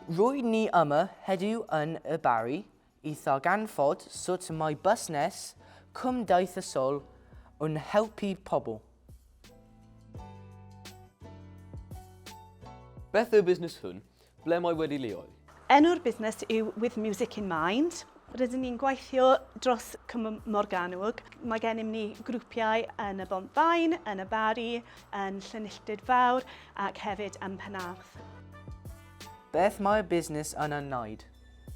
Rwy'n ni yma heddiw yn y Barri i ddarganfod sut mae busnes cymdeithasol yn helpu pobl. Beth yw'r busnes hwn? Ble mae wedi leoli? Enw'r busnes yw With Music in Mind. Rydyn ni'n gweithio dros Cwm Morgannwg. Mae gennym ni grwpiau yn y Bontfaen, yn y Barri, yn Llynilltud Fawr ac hefyd yn Penarth. Beth mae'r busnes yna'n wneud?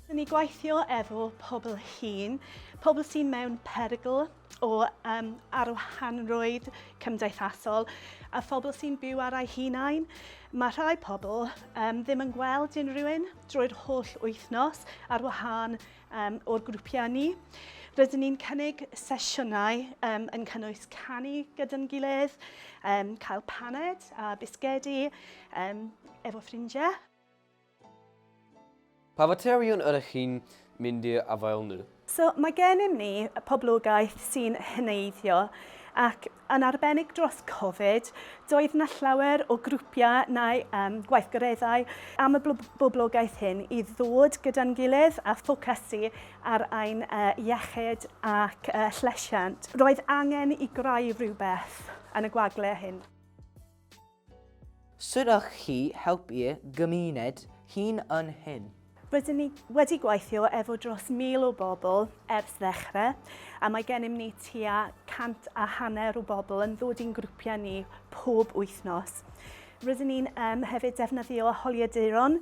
Rydyn ni'n gweithio efo pobl hŷn, pobl sy'n mewn perygl, o um, arwahanrwydd cymdeithasol a phobl sy'n byw ar eu hunain. Mae rhai pobl um, ddim yn gweld unrhyw un drwy'r holl wythnos ar wahân um, o'r grwpiau ni. Rydyn ni'n cynnig sesiynau um, yn cynnwys canu gyda'n gilydd, um, cael paned a bisgedi um, efo ffrindiau. Pa faterion yr ych chi'n mynd i'r afael nhw? So, mae gennym ni poblogaeth sy'n heneiddio ac yn arbennig dros Covid, doedd 'na llawer o grwpiau neu um, gweithgareddau am y boblogaeth hyn i ddod gyda'n gilydd a ffocysu ar ein uh, iechyd ac uh, llesiant. Roedd angen i greu rhywbeth yn y gwagle hyn. Sut ych chi helpu'r gymuned hŷn yn hyn? Rydyn ni wedi gweithio efo dros 1,000 o bobl ers ddechrau, a mae gennym ni tua 100 a hanner o bobl yn dod i'n grwpiau ni pob wythnos. Rydyn ni'n hefyd defnyddio holiaduron,